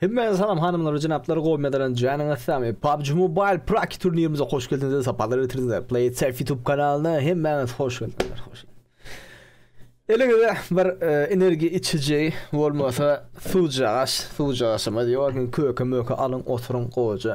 Hemmäňize salam hanymlar we jenaplar gowy mezelenç janyňyz samy PUBG Mobile Praki turnirimize hoş geldiňizler sapalar getirdiňizler Play It Safe YouTube kanalyna hemmäňiz hoş geldiňizler hoş Eliňize bir e, energiýa içiji bolmasa suwjagaş suwjagaşyma diýýär köke möke alyň oturyň gowaja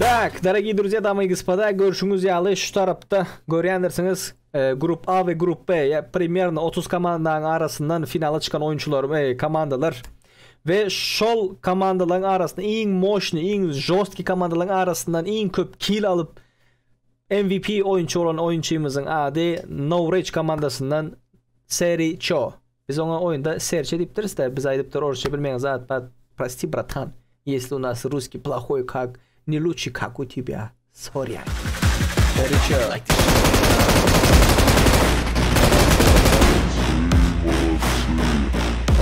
Tak, daragiý druzýa, dama i gospoda, görşüňiz ýaly, şu tarapda görýändirsiňiz, Grup A we Grup B, ýa primerno otuz komandanyň arasyndan finala çykan oýunçylar, eý, komandalar we şol komandalaryň arasynda iň moşny, iň žostki komandalaryň arasyndan iň köp kill alyp, MVP oýunçy bolan oýunçymyzyň ady Nowreç komandasyndan Seri Ço. Biz oňa oýunda serçe diýipdiris-dä, biz aýdypdyr orsça bilmeýän zat bar, prosti bratan, ýesli u nas russkiý plahoý kak, ne luçşi kak u tibýa, sorýan. Gorýçä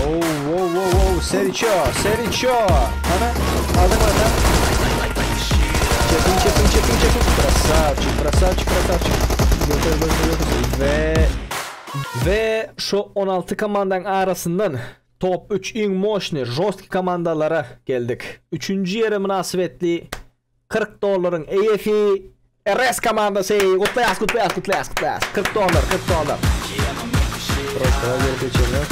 Ow-ow-ow-ow, serçe, serçe, hana, adyň ata. Çepiň, çepiň, çepiň, çepiň, krasawçik, krasawçik, krasawçik. Göter, göter, göter, we... We şu on alty komandaň arasyndan top üç iň moşny, žostki komandalara geldik. Üçünji ýere mynasybetli kyrk dollaryň eýesi RS komandasy! Gutlaýas, gutlaýas, gutlaýas, gutlaýas! Kyrk dollar, kyrk dollar! Prostoga gelip geçenler.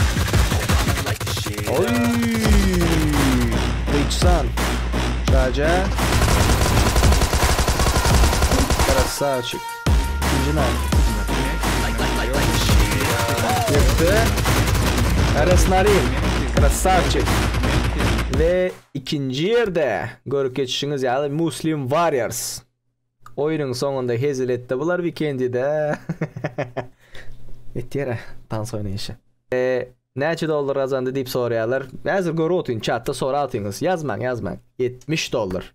Oý! Eýçsan! Şaja! Krasawçik! Arasnarin, krasavçik. Ve ikinci yerde görüp geçişiniz yani Muslim Warriors. Oyunun sonunda hezil etti bular weekendide. Etiyere dans oynayışı. Eee Näçe dollar gazandy diýip soraýarlar. Häzir görüp otyryn, çatda sorap atýyňyz. Ýazmaň, ýazmaň. 70 dollar.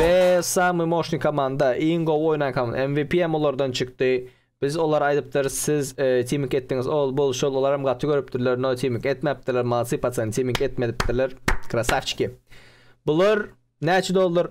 Be samy moşny komanda iň gowy oýnan komanda MVP hem olardan çykdy. Biz olar aýdypdyr siz e, timik etdiňiz ol bul şol olar hem gaty görüpdirler no timik etmäpdirler malsy paçan timik etmedipdirler krasavçiki. Bular näçe dollar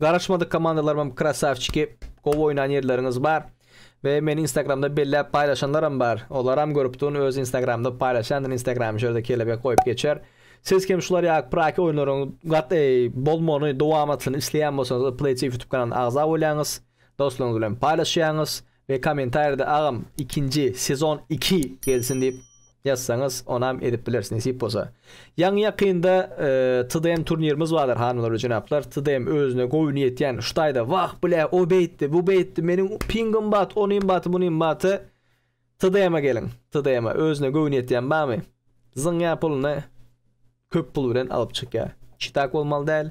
Garaşmadyk komandalarymam krasawçiki gowy oýnan ýerleriňiz bar we meni instagramda belläp paýlaşanlaram bar olaram görüp duryn öz instagramda paýlaşýandyr instagramy şu ýerde kelebek goýup geçer siz kem şular ýaly praki oýunlaryň gat eý bolmany dowamatlyny isleýän bolsaňyz play tv ýutub kanalyna agza bolýaňyz dostlaryňyz bilen paýlaşýaňyz We komentarýada agam ikinji sezon iki gelsin diýip ýazsaňyz onam edip bileris nesip bolsa. Ýaňy ýakynda TDM turnirimiz bardyr hanymlar we jenaplar TDM özüne gowy niýet ýan şu taýda wah bile o beýtdi bu beýtdi meniň pingim bat onym baty bunym baty TDM-e geliň TDM-e özüne gowy niýet ýan barmy zyňýa pulyny köp pul bilen alyp çykýa çitak bolmaly däl.